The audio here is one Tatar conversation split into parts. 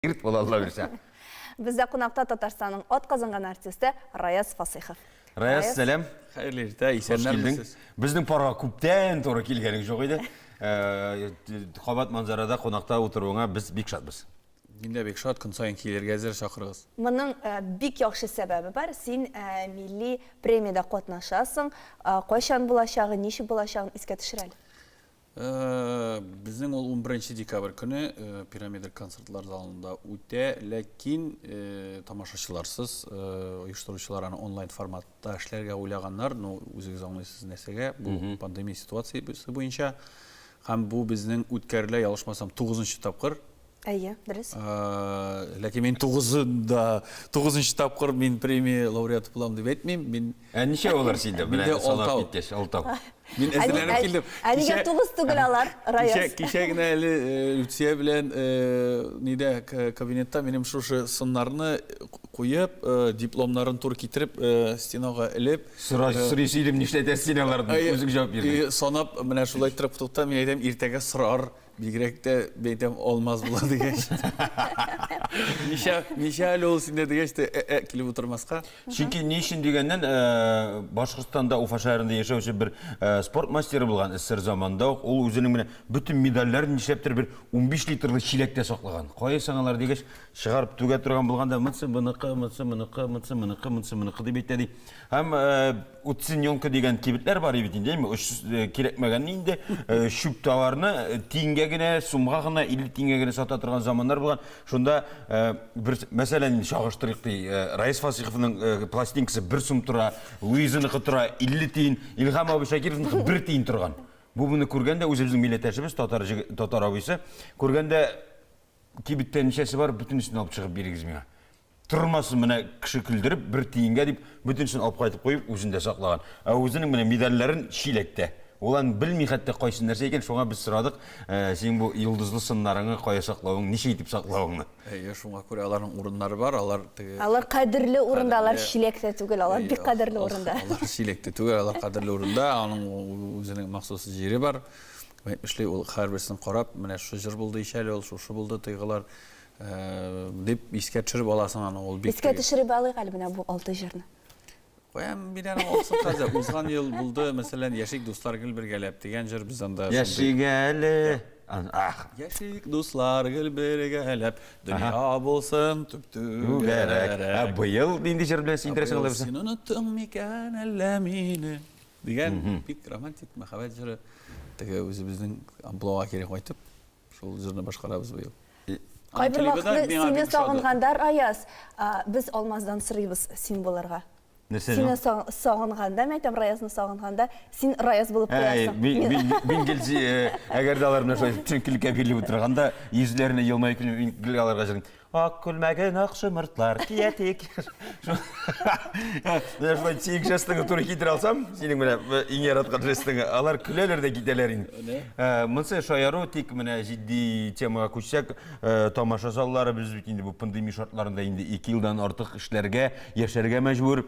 Ирт бул Алла бирсә. Бездә кунакта Татарстанның ат казынган артисты Раяз Фасыйхов. Раяз, сәлам. Хәерле иртә, исәннәрмесез. Безнең парга күптән туры килгәнең жок иде. Э, кабат манзарада кунакта утыруыңа без бик шатбыз. Мин дә бик шат, көн саен килергә әзер чакырыгыз. Моның э, бик яхшы сәбәбе бар. Син э, милли премиядә катнашасың. Э, кайчан булачагы, ничек булачагын искә төшер әле. Безнең ул 11 декабрь көне Пирамида концертлар залында үтә, ләкин тамашачыларсыз, оештыручылар аны онлайн форматта эшләргә уйлаганнар, ну, үзегез аңлыйсыз нәрсәгә, бу пандемия ситуациясе буенча. Һәм бу безнең үткәрелә, ялгышмасам, 9 нчы тапкыр Әйе, дөрес. Ләкин мин тугызында, тугызынчы тапкыр мин премия лауреаты булам дип әйтмим. Мин Ә ничә алар синде? Менә Миндә салап алтау. киткәч, алтау. мин Ә ни- әзерләнеп ә- килдем. Ә нигә Кичә- тугыз түгел алар, Кичә, Раяз? кичә генә әле э, Люция белән э, нидә к- кабинетта минем шушы сыннарны куеп, э, дипломнарын тур китереп, э, стенага элеп, Сораш, сорыйсы идем, нишләтә син аларны? Әйе, Үзең җавап бирдең. и Санап, менә шулай иттереп туктам, мин әйтәм, иртәгә сорар, Бигрәк тә бәйтәм алмаз була дигәч. Ничә ничә әле ул синдә дигәч тә ә, ә, килеп утырмаска. Чөнки ни өчен дигәннән, э, Башкортстанда Уфа шәһәрендә яшәүче бер э, спорт мастеры булган эсэр заманда ук ул үзенең менә бөтен медальләрен нишләптер бер 15 литрлы чиләктә саклаган. Кая соң алар дигәч, чыгарып түгә торган булганда, монысы моныкы, монысы моныкы, монысы моныкы, монысы моныкы дип әйтә ди. Һәм э, Уценёнка дигән кибетләр бар бит инде, әйме, оч э, кирәкмәгәнне инде. Э, Чүп товарны э, тиенгә генә, сумга гына, 50 тиенгә генә сата торган заманнар булган. Шунда э, бер, мәсәлән, инде чагыштырыйк ди. э, Раис Фасиховның э, пластинкасы бер сум тора, Луизаныкы тора 50 тиен, Илһам абый Шакировныкы бер тиен торган. Бу буны күргәндә үзебезнең милләттәшебез, татар җиге- татар абыйсы, күргәндә кибеттә ничәсе бар, бөтенесен алып чыгып бирегез миңа. Тормасын менә кеше көлдереп, бер тиенгә дип, бөтенсен алып кайтып куеп, үзен дә саклаган. Ә үзенең менә медальләрен чиләктә. Ул аны белми хәтта кайсы нәрсә икән, шуңа без сорадык, э, синең бу йолдызлы сыннарыңны кая саклавың, ничә итеп саклавыңны. Әйе, шуңа күрә аларның урыннары бар, алар теге... Алар кадерле урында, алар чиләктә түгел, алар бик кадерле урында. Алар чиләктә түгел, алар кадерле урында, аның үзенең махсус җире бар. Әйтмешли, ул һәрберсен карап, менә шушы җыр булды ич әле ул, шушы булды тыйгылар. Дип искә төшереп аласың аны, ул бик. Искә төшереп алыйк әле менә бу алты җырны. Куям мин аны алсын хәзер. Узган ел булды, мәсәлән, Яшик дуслар гел бергәләп дигән җыр без анда. Яшик әле. Ах. Яшик дуслар гел бергәләп, дөнья булсын түп-түгәрәк. Ә быел нинди җыр белән сөендерәсең алар безне? Син оныттың микән әллә мине? Дигән бик романтик мәхәббәт җыры. Теге үзебезнең амплуага кире кайтып. Шул җырны башкарабыз быел. Кайбер вакытны сине сагынганда, Раяз, без Алмаздан сорыйбыз син булырга. Нәрсә? Сине сагынганда, мен әйтәм, Раязны сагынганда, син Раяз булып куясың. Мин гел әгәр дә алар белән шулай төшенкелеккә бирелеп утырганда, йөзләренә елмаеп килеп, мин гел аларга җырлыйм. Ак күлмәген ак шомыртлар кия тик. Менә шулай тик жестыңны туры китерә алсам, синең менә иң яраткан жестыңы, алар көләләр дә китәләр инде. Монысы шаяру, тик менә җитди темага күчсәк, тамаша заллары без бит инде бу пандемия шартларында инде ике елдан артык эшләргә, яшәргә мәҗбүр.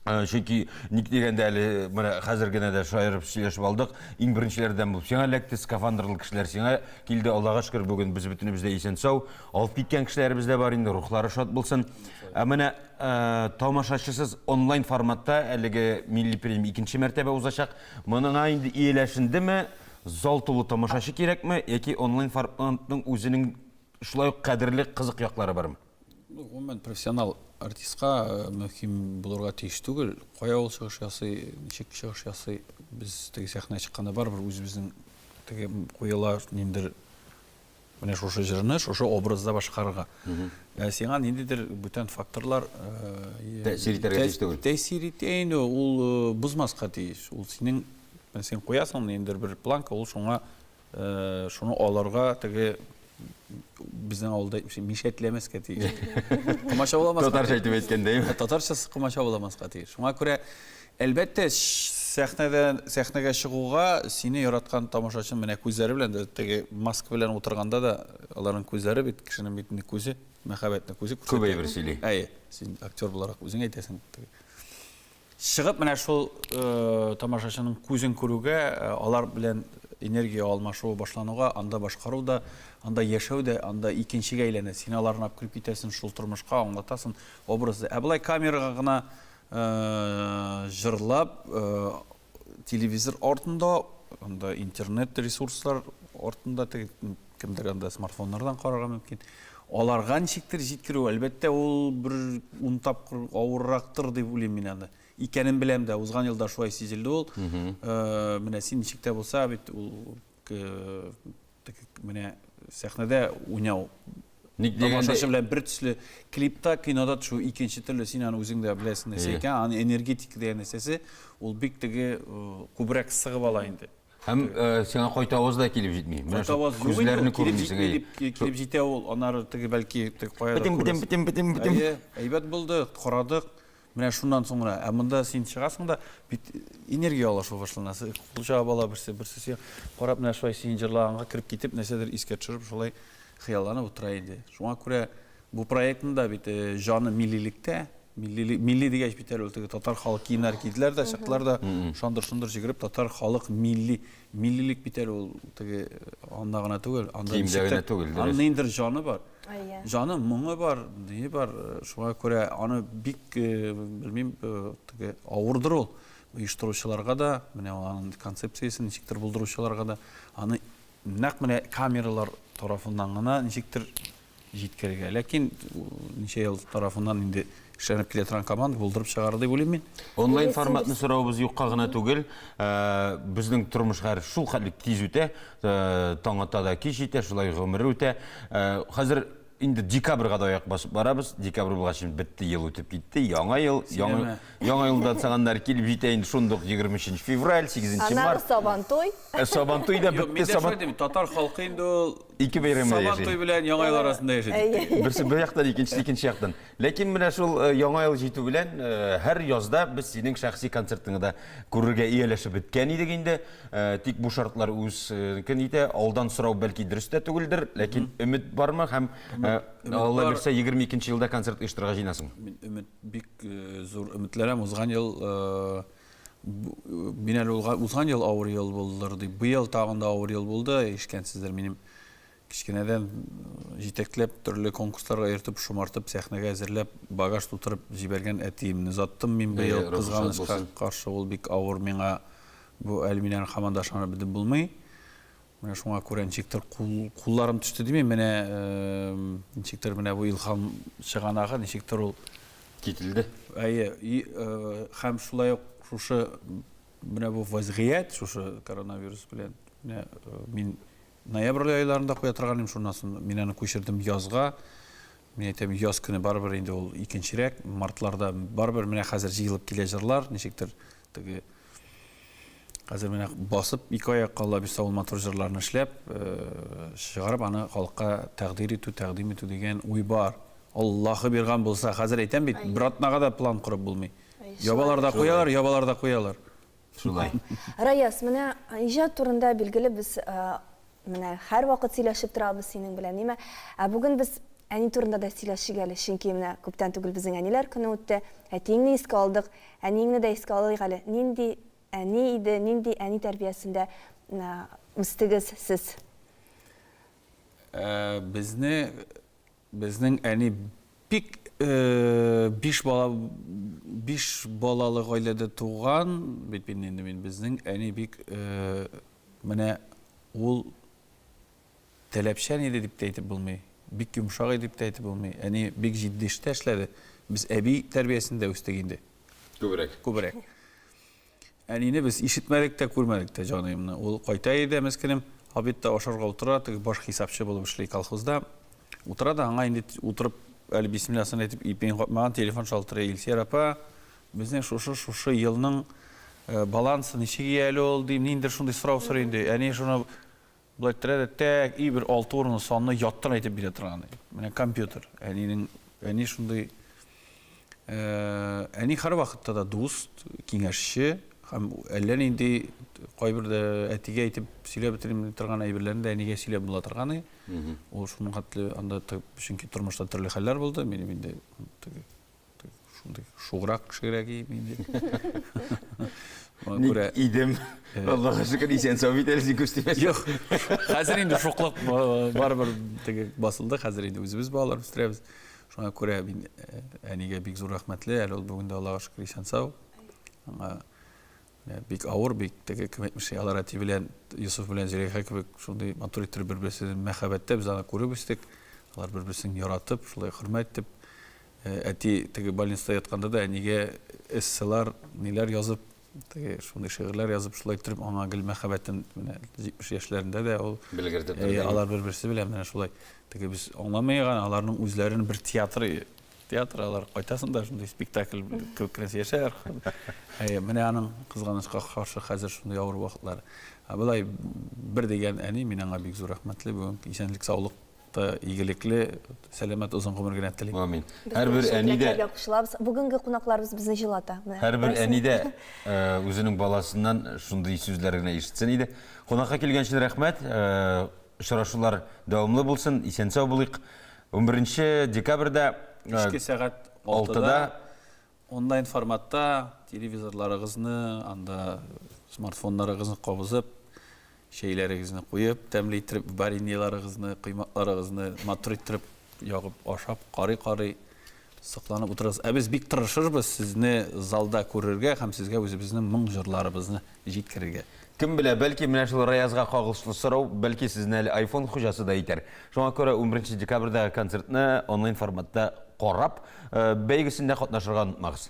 Э, чөнки ник дигәндә әле менә хәзер генә дә шаярып сөйләшеп алдык иң беренчеләрдән булып сиңа эләкте скафандрлы кешеләр сиңа килде аллага шөкер бүген без бөтенебез дә исән сау алып киткән кешеләребез дә бар инде рухлары шат булсын ә менә э, тамашачысыз онлайн форматта әлеге милли премия икенче мәртәбә узачак моңа инде ияләшендеме зал тулы тамашачы кирәкме яки онлайн форматның үзенең шулай ук кадерле кызык яклары бармы Гомумән, профессионал артистка мөһим булырга тиеш түгел. Кая ул чыгыш ясый, ничек чыгыш ясый, без теге сәхнә чыкканда барыбер үзебезнең теге куела ниндер менә шушы җырны шушы образда башкарырга. Ә сиңа ниндидер бүтән факторлар тәэсир итәргә тиеш түгел. Тәэсир итә инде, ул бозмаска тиеш. Ул синең син куясың ниндер бер планка, ул шуңа Шуны алырга теге безнең авылда әйтмешә мишәтләмәскә тиеш. Комачауламаска. Татарча әйтеп әйткәндә. Татарча комачауламаска тиеш. Шуңа күрә әлбәттә сәхнәдән сәхнәгә чыгуга сине яраткан тамашачы менә күзләре белән дә теге маска белән утырганда да аларның күзләре бит кешенең бит инде күзе мәхәббәтне күзе күрсәтә. Күп әйбер сөйли. Әйе, син актер буларак үзең әйтәсең. Чыгып менә шул тамашачының күзен күрүгә, алар белән энергия алмашуы башлануга, анда башкару да, анда яшәү дә, анда икенчегә әйләнә. Син аларны алып кереп китәсен, шул тормышка аңлатасын, образды. Ә болай камерага гына җырлап, телевизор артында, анда интернет ресурслар артында теге Кемдер анда смартфоннардан карарга мөмкин. Аларга ничектер җиткерү, әлбәттә, ул бер ун тапкыр авыррактыр дип уйлыйм мин аны. Икәнен беләм дә, узган елда шулай сизелде ул. Э, менә син ничек тә булса бит ул э, менә сәхнәдә уйнау Ник дигәндә белән бер төсле клипта, кинода төшү икенче төрле син аны үзең дә беләсең нәрсә икән, аны энергетика дигән нәрсәсе, ул бик теге э, күбрәк сыгып ала инде. Һәм сиңа кайтавыз да килеп җитми. Менә шул күзләрне күрмисең. Килеп җитә ул, анары теге бәлки теге кая. Битем, битем, битем, битем, битем. Әйе, әйбәт булды, карадык. Менә шуннан соңра, ә монда син чыгасың да бит энергия алышу башланасы. Хуҗа бала берсе берсе сиңа карап менә шулай син җырлаганга кереп китеп нәрсәдер искә төшереп шулай хыялланып утыра иде. Шуңа күрә Бу проектның да бит җаны миллилектә. Милли, милли дигәч бит әле ул теге татар халык киемнәре киделәр дә, чыктылар да, шандыр-шундыр җигереп, татар халык милли, миллилек бит әле ул теге анда гына түгел, анда Киемдә генә түгел, дөрес. Анда ниндер җаны бар. Әйе. Җаны, моңы бар, ние бар. Шуңа күрә аны бик, белмим, теге авырдыр ул оештыручыларга да, менә аның концепциясен ничектер булдыручыларга да, аны нәкъ менә камералар тарафыннан гына ничектер җиткерергә. Ләкин ничә ел тарафыннан инде эшләнеп килә торган команда булдырып чыгарыр дип уйлыйм мин. Онлайн форматны сорауыбыз юкка гына түгел. Э, безнең тормыш хәзер шул хәтле тиз үтә, э, таң ата да кич җитә, шулай гомер үтә. Э, хәзер инде декабрьга да аяк басып барабыз. Декабрь булгач бетте, ел үтеп китте. Яңа ел, яңа, яңа елда цаганнар килеп җитә инде шундук 23 февраль, 8 март. Аннары сабантуй. Ә сабантуй да бетте, сабантуй. Татар халкы инде ул Ике бәйрәмдә яши. Сабан туй белән Яңа ел арасында яши. Берсе бер яктан, икенчесе икенче яктан. Ләкин менә шул э, Яңа ел җитү белән э, һәр язда без синең шәхси концертыңны да күрергә ияләшеп беткән идек инде. Э, тик бу шартлар үз көн итә. Алдан сорау бәлки дөрес тә түгелдер, ләкин өмет бармы һәм Алла бирсә 22 елда концерт оештырырга җыенасың? Мин өмет бик зур өметләрем узган ел Мин әле узган ел авыр ел булдыр дип, быел тагын да авыр ел булды, ишкәнсездер, минем кечкенәдән җитәкләп, төрле конкурсларга йөртеп, шомартып, сәхнәгә әзерләп, багаж тутырып җибәргән әтиемне заттым мин быел кызганычка каршы, ул бик авыр миңа, бу әле мин аны һаман да ышанып бетеп булмый. Менә шуңа күрә ничектер кулларым төште димим, менә ничектер менә бу илһам чыганагы ничектер ул кителде. Әйе, һәм шулай ук шушы менә бу вазгыять шушы коронавирус белән менә мин ноябрь айларында куя торган идем, шуннан соң мин аны күчердем язга. Мин әйтәм, яз көне барыбер инде ул икенчерәк, мартларда барыбер менә хәзер җыелып килә җырлар, ничектер Теге хәзер менә басып ике аяк калла бис авыл матур җырларны эшләп э, чыгарып аны халыкка тәкъдир итү, тәкъдим итү дигән уй бар. Аллаһы бирган булса, хәзер әйтәм бит, бер атнага да план корып булмый. Ябалар да куялар, ябалар да куялар. Шулай. Раяз, менә иҗат турында билгеле без э, Менә һәрвакыт сөйләшеп торабыз синең белән, нимә? Ә бүген без әни турында да сөйләшик әле, чөнки менә күптән түгел безнең әниләр көне үтте. Әтиеңне искә алдык, әниеңне дә искә алыйк әле. Нинди әни иде, нинди әни тәрбиясендә үстегез сез? Безне Безнең әни бик биш бала биш балалы гаиләдә туган бит мин инде мин безнең әни бик менә ул таләпчән иде дип тә әйтеп булмый, бик йомшак иде дип тә әйтеп булмый. Әни бик җитди эштә эшләде. Без әби тәрбиясендә үстек инде. Күбрәк. Күбрәк. Әнине без ишетмәдек тә, күрмәдек тә, җаныемны. Ул кайта иде, мескенем, обедта ашарга утыра, теге баш хисапчы булып эшли колхозда. Утыра да, аңа инде утырып, әле бисмилласын әйтеп, ипиен капмаган, телефон шалтырый. Илсөяр апа, безнең шушы, шушы елның балансы ничек ияле ул, дим, ниндидер шундый сорау сорыйм, ди. Әни шуны Болай терә дә тәк и бер алты урынлы санны яттан әйтеп бирә торган иде. Менә компьютер. Әнинең, әни шундый, әни һәрвакытта да дуст, киңәшче һәм әллә нинди кайбер дә әтигә әйтеп сөйләп бетерми торган әйберләрне дә әнигә сөйләп була торган иде. Ул шуның хәтле анда, чөнки тормышта төрле хәлләр булды, минем инде шундый шуграк кешегә кием инде. Ник күрә... идем. Э. Аллага шөкер, исән сау бит әле күз тимәс. Юк. Хәзер инде шуклык э, барыбер теге басылды. Хәзер инде үзебез балалар үстерәбез. Шуңа күрә мин э, әнигә бик зур рәхмәтле. Әле ул бүген дә Аллага шөкер исән сау. Аңа Бик авыр бит теге кем әйтмешли алар әти белән Йосыф белән Зөләйха кебек шундый матур иттереп бер-берсен мәхәббәттә без аны күреп үстек. Алар бер-берсен яратып, шулай хөрмәт итеп әти теге больницада ятканда да әнигә эсселар, ниләр язып, теге шундый шигырьләр язып, шулай иттереп аңа гел мәхәббәтен менә 70 яшьләрендә дә ул белгерде. Алар бер-берсе белән менә шулай. Теге без аңламый гына аларның үзләренең бер театры театр алар кайтасың да шундый спектакль кебек нәрсә яшәр әйе менә аның кызганычка каршы хәзер шундый авыр вакытлар ә болай бер дигән әни мин аңа бик зур рәхмәтле бүген исәнлек саулык та игелекле сәламәт озын гомер генә телим амин һәрбер әни дә кушылабыз бүгенге кунакларыбыз безне җылата һәрбер әни дә үзенең баласыннан шундый сүзләр генә ишетсен иде кунакка килгән өчен рәхмәт Очрашулар дәвамлы булсын, исән-сау булыйк. Унберенче декабрьдә Кичке сәгать алтыда онлайн форматта телевизорларыгызны, анда смартфоннарыгызны кабызып, чәйләрегезне куеп, тәмле иттереп вареньеларыгызны, коймакларыгызны матур иттереп ягып ашап, карый-карый, Сокланып утырыгыз. Ә без бик тырышырбыз сезне залда күрергә һәм сезгә үзебезнең моң-җырларыбызны җиткерергә. Кем белә, бәлки, менә шул Раязга кагылышлы сорау, бәлки, сезне әле айфон хуҗасы да итәр. Шуңа күрә унберенче декабрьдәге концертны онлайн форматта карап, бәйгесендә катнашырга онытмагыз.